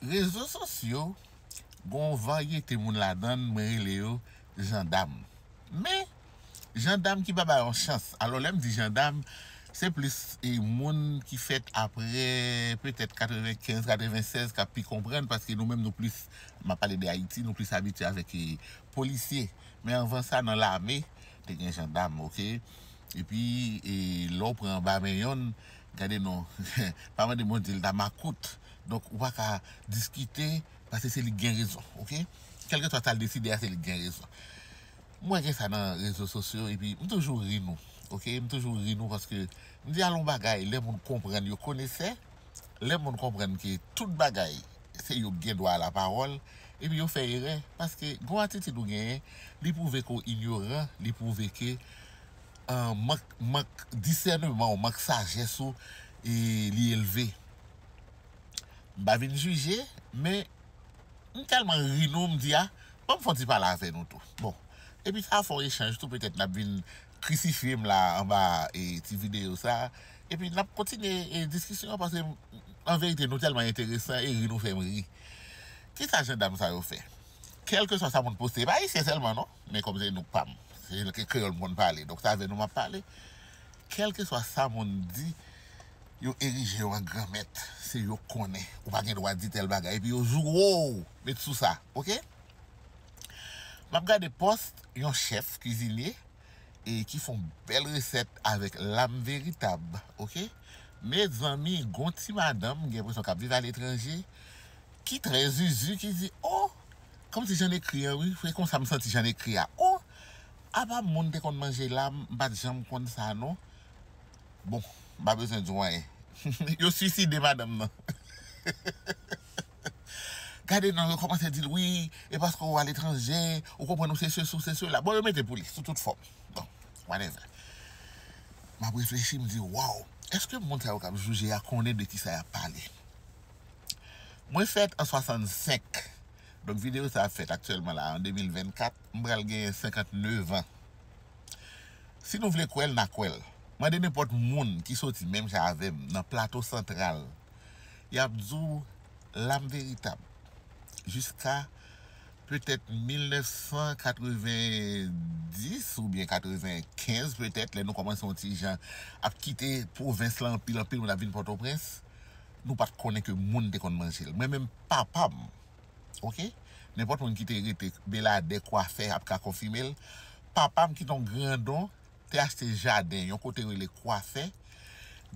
Rezo sosyo gen yon varyete moun ladann mwen rele yo jandam men jandam ki pa bay yon chans alò lèm di jandam se plis moun ki fèt aprè petèt 95 96 kap pi konprann paske nou menm nou plis map pale de ayiti nou plis abitye avèk polisye men anvan sa nan lame te gen jandam ok epi lèw pran anba men yonn Gade non, pa mande Bondye li ta makout, donk ou paka diskite pase se lik gen rezon ok, kèlkeswa sal deside a se lik gen rezon, m wè gen sa nan rezo sosyo epi m toujou ri nou ok, m toujou ri nou paske m di al on bagay lè moun konprann yo konesè, lè moun konprann ke tout bagay se yo ki gen dwa a la pawòl epi yo fè erè paske gon atitid ou genyen li pwouve ke w inyoran, li pwouve ke. Mank mank disèneman w, mank sajès ou li elve. M pa vin jije, men m tèlman ri nou m di a ban m fè yon ti pale avè nou tou. Bon, epi sa a fè yon echanj tou petèt n ap vin krisifye m la anba ti videyo sa a epi n ap kontinye diskisyon an paske an verite nou tèlman enteresan e ri nou fè m ri. Kisa jandam sa yo fè? Kèlkeswa sa moun poste, e pa ayisyen sèlman non. Men kòm se nou pa m. Se ke kreyòl m konn pale. Donk se avè nou m ap pale. Kèlkeswa sa moun di, yo erije yo an gran mèt. Se yo k konnen. Ou pa gen dwa di tèl bagay. Epi yo zouro w. Met sou sa. Ok? M ap gade post yon chèf kuizinye e ki fon bèl resèt avèk lam veritab. Ok? Mezanmi, gon ti madanm, m gen enpresyon k ap viv aletranje. Ki trè zuzu ki di oh kòmsi jan ekri an wi se konsa m santi jan ekri a oh apa moun te konn manje la m pat janm konn sa non bon m pa bezwen di w anyen yo swiside madanm nan gade non yo kòmanse di l wi e paske w aletranje ou konprann ou se sesi ou se sela bon yo mete pou li sou tout fòm bon whatever m ap reflechi m di waw èske moun sa yo k ap jije a konnen de kisa y ap pale. Mwen fèt an 65, donk videyo sa ap fèt aktyèlman la an 2024, m pral genyen 59 an. Si nou vle kwè l, n a kwè l. Mande nenpòt moun ki soti menm jan avè m nan Plato Santral, y ap di w lam veritab. Jiska petèt 1990 oubyen 95 petèt, lè nou kòmanse yon ti jan ap kite pwovens la anpil anpil moun ap vin Pòtoprens, Nou pat konnen ke moun te konn manje l. Mwen menm papa m ok nenpòt moun ki te rete Beladè, Kwafè ap ka konfime l. Papa m ki te yon grandon te achte jaden yon kote rele Kwafè.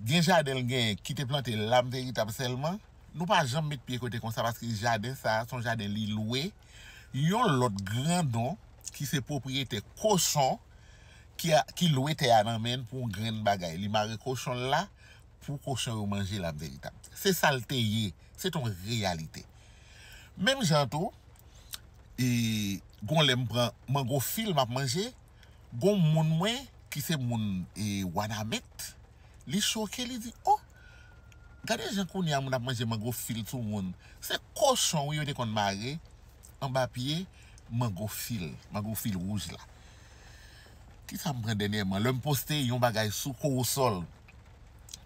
Gen jaden l genyen ki te plante lam veritab sèlman. Nou pa janm met pye kote konsa paske jaden sa a se yon jaden li lwe yon lòt grandon ki se pwopriyetè kochon ki lwe tè a nan men l pou yon grenn bagay. Li mare kochon l la pou kochon yo manje la veritab se sal te ye se ton reyalite menm jan tou e gon lèm pran mango fil map manje gon moun mwen ki se moun e wanament li choke li di oh gade jan kounya moun ap manje mango fil sou moun se kochon wi yo te konn mare anba pye mango fil mango fil wouj la. Kisa m pran dènyèman lè m poste yon bagay sou kowosòl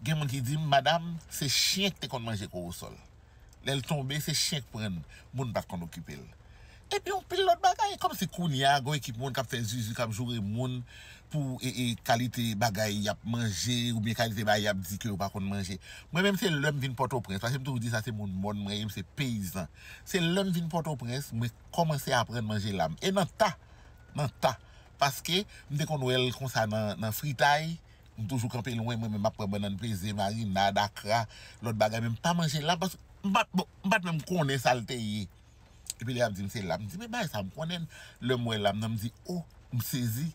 gen moun ki di m madam se chyen ki te konn manje kowosòl lè l tonbe se chyen ki pran l moun pa t konn okipe l epi yon pil lòt bagay kòmsi kounye a gen yon ekip moun k ap fè zuzu k ap joure moun pou kalite bagay y ap manje oubyen kalite bagay y ap di ke yo pa konn manje mwen menm se lè m vin pòtoprens paske m toujou di sa se moun mòn mwen ye m se peyizan se lè m vin pòtoprens mwen kòmanse aprann manje lam e nan ta nan ta. Paske m te konn wè l konsa nan fritay, m toujou kanpe lwen mwen menm map pran bannann peze, marinad, akra, lòt bagay men m pa manje l la paske m pat bon m pat menm konnen sa l te ye. Epi li ap di m se lam, m di men bagay sa m konnen l, lè m wè lam nan m di oh m sezi.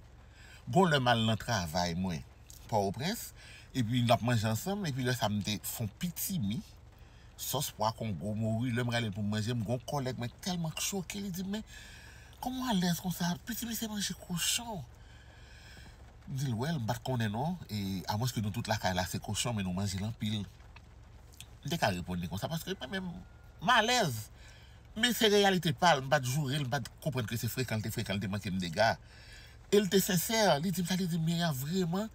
Gon lè m al nan travay mwen Pòtoprens epi nap manje ansanm epi lè sa m te fon pitimi. Sòs pwa kongo mouri lèm ralel poum manjel m gon kòlèg mwen tèlman k choke li dim men kòman w alèz konsa piti misye manje kochon m dil wèl m pat konnen non e amwens ke nou tout lakay la se kochon men nou manjel anpil m te ka reponn li konsa paske mwen menm m alèz men se reyalite pal m pat jourel m pat konprann ke se frekan l te frekan l te mankem dega el te sensè li dim sa li dim Mira vreman.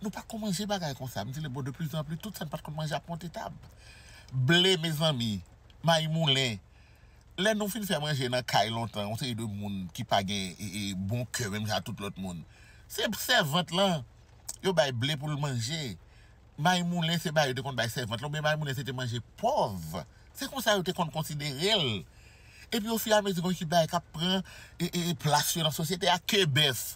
Nou pa konn manje bagay konsa. M di li bon de plis an plis tout sa n pa t konn manje ap monte tab. Ble mezanmi, mayi moulen. Lè nou fin fè manje nan kay lontan yon seri de moun ki pa gen bon kè menm jan a tout lòt moun. Se sèvant lan yo bay ble pou l manje. Mayi moulen se bay yo te konn bay sèvant lan oubyen mayi moulen se te manje pòv. Se konsa yo te konn konsidere l. Epi ofi a mezi gen ki bagay k ap pran plas yo nan sosyete a. Ke bèf.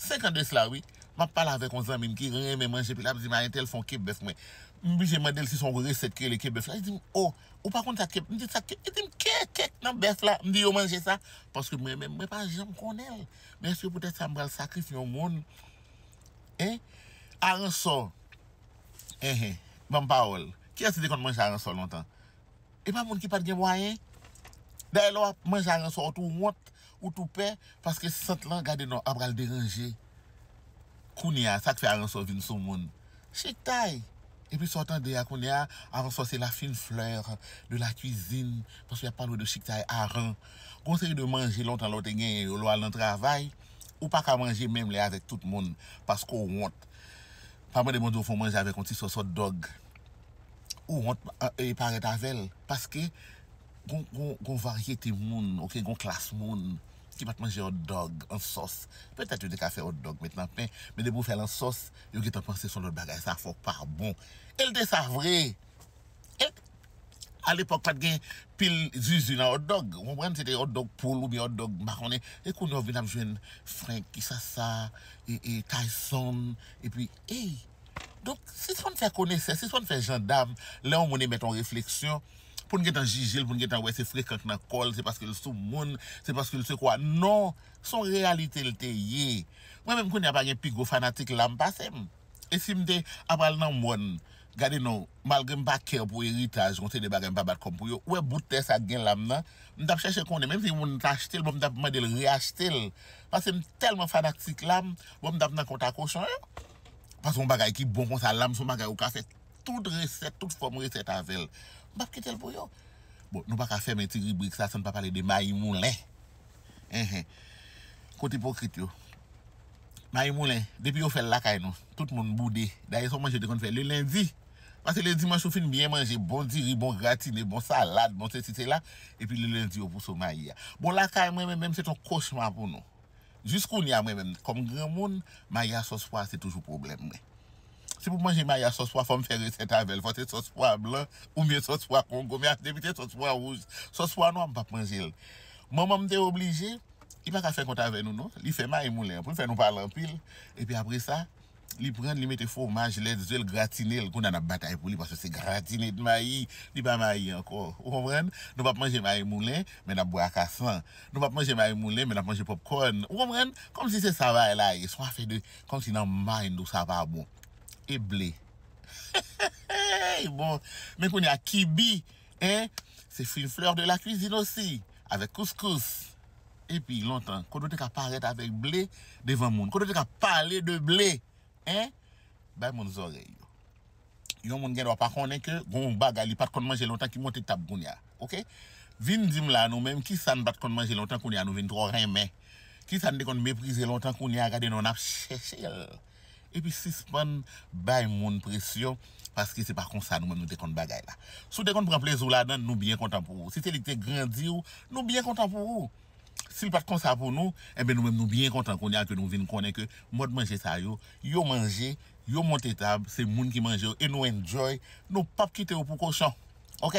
5 ans de cela wi map pale avek yon zanmim ki renmen manje epi lap dim a entèl fon kebèf mwen m blije mandel si son resèt ki rele kebèf la li dim oh ou pa konn sa kebèf m di sa kebèf li dim ke kek nan bèf la m di yo manje sa paske mwen menm mwen pa janm konnenl men eske poutèt sa m pral sakrifye yon moun en aransò enhen banm pawòl kiyès ki te konn manje aransò lontan epa moun ki pat gen mwayen dayè lè wap manje aransò ou tou wont Ou tou pè paske sant lan gade non a pral deranje kounya sak fè aransò vin sou moun chiktay epi sa w tande a kounya aransò se la fine fleur de la cuisine paske yap pale w de chiktay aran gon seri de manje lontan lè w te genyen yo lè w al nan travay ou paka manje menm lè avèk tout moun paske w wont pa mande Bondye w fon manje avèk yon ti sòs hot dog ou wont parèt avèl paske Gon varyete moun ok, gon klas moun ki pat manje hotdog an sòs, petèt yo te ka fè hotdog met nan pen, men depi ou fèl an sòs yo gentan panse son lòt bagay, sa fòk pa bon, el te sa vre e alepòk pat gen pil zuzu nan hotdog ou konprann, se te hotdog poul oubyen hotdog m pa konnen, e kounye a ou vin ap jwenn frenk, kisa sa e tayson epi ey, donk sispann fè konesè, sispann fè jandam lè yon moun emèt yon refleksyon. poun gentan jijel poun gentan wè se frekan k nan kòl se paskel sou moun se paskel se kwa non son reyalitel te ye mwen menm kounya pa gen pi gwo fanatik lam pasem e sim te apral nan mòn gade non malgrem pa kè pou eritaj gon seri de bagay mpa bat kòm pou yo ou wè bout tè sa gen lam nan mtap chèche konnen menm si yon moun ta achtel bon mtap mandel re achtel pasem tèlman fanatik lam bon mtap nan kont a kochon yo paske yon bagay ki bon konsa lam son bagay ou ka fè Tout resèt, tout fòm resèt avè l. M pap kite l pou yo. Bon, nou pa ka fèmen ti ribrik sa san n pa pale de mayi moulen. Enhen. Kot ipokrit yo? Mayi moulen, depi yo fè l lakay nou, tout moun boude. Dayè se yon manje yo te konn fè le lendi. Pase le dimanch ou fin byen manje, bon diri, bon gratine, bon salad, bon sesi sela, epi le lendi yo pouse w mayi a. Bon, lakay mwen, menm, menm se t yon kochma pou nou. Jis kounye a, mwen menm, kòm granmoun, mayi a sòs pwa a se toujou pwoblèm mwen. Si pou manje mayi a sòs pwa fòm fè resèt avèl fò se sòs pwa blan oubyen sòs pwa kongo men depi se sòs pwa wouj sòs pwa nwa m pap manjel manmanm te oblije li paka fè kont avè nou non li fè mayi moulen an poul fè nou pale anpil epi apresa li prann li mete fwomaj lèt ze l gratinel kounya nap batay pou li paske se gratine de mayi li pa mayi ankò ou konprann nou pap manje mayi moulen men nap bwè akasan nou pap manje mayi moulen men nap manje pòpkòn ou konprann kòmsi se sa bagay la ye son afè de Komsi nan mind ou sa pa bon. E ble. Heheheheh bon men kounye a kibi hein se une fleur de la cuisine aussi avec couscous epi lontan kote ou te ka parèt avèk ble devan moun kote ou te ka pale de ble hein bay moun zòrèy yo. yon moun gendwa pa konnen ke gon yon bagay li pat konn manje lontan ki monte tab kounya ok vin dim la nou menm kisa nou pat konn manje lontan kounya nou vin trò renmen kisa nou te konn meprize lontan kounya gade nou nap chèchel epi sispann bay moun presyon paske se pa konsa nou menm nou te konn bagay la si w te konn pran plezi w ladann nou byen kontan pou ou si se li ki te grandiw nou byen kontan pou ou. Si l pa t konsa pou nou, enben nou menm nou byen kontan kounye a ke nou vin konnen ke mòd manje sa yo, yo manje, yo monte tab, se moun ki manje yo e nou enjoy, nou p ap kite yo pou kochon. Ok!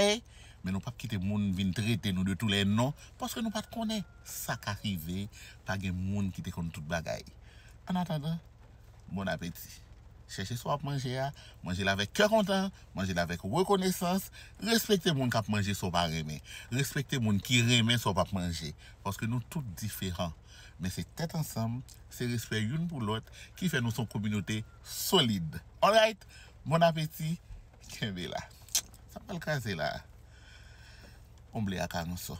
Men nou p ap kite moun vin trete nou de tou lè non, paske nou pa t konnen sa ka rive, pa gen moun ki te konn tout bagay. Ann atandan, Bon apeti! Chèche sa w ap manje a, manje l avèk kè kontan, manje l avèk rekonesans, respekte moun k ap manje sa w pa renmen, respekte moun ki renmen sa w p ap manje, paske nou tout diferan, men se tèt ansanm, se respè youn pou lòt ki fè nou s on kominote solid! Alright! Bon apeti! Kenbe la! Sa m pral kraze la a, omble ak aransò.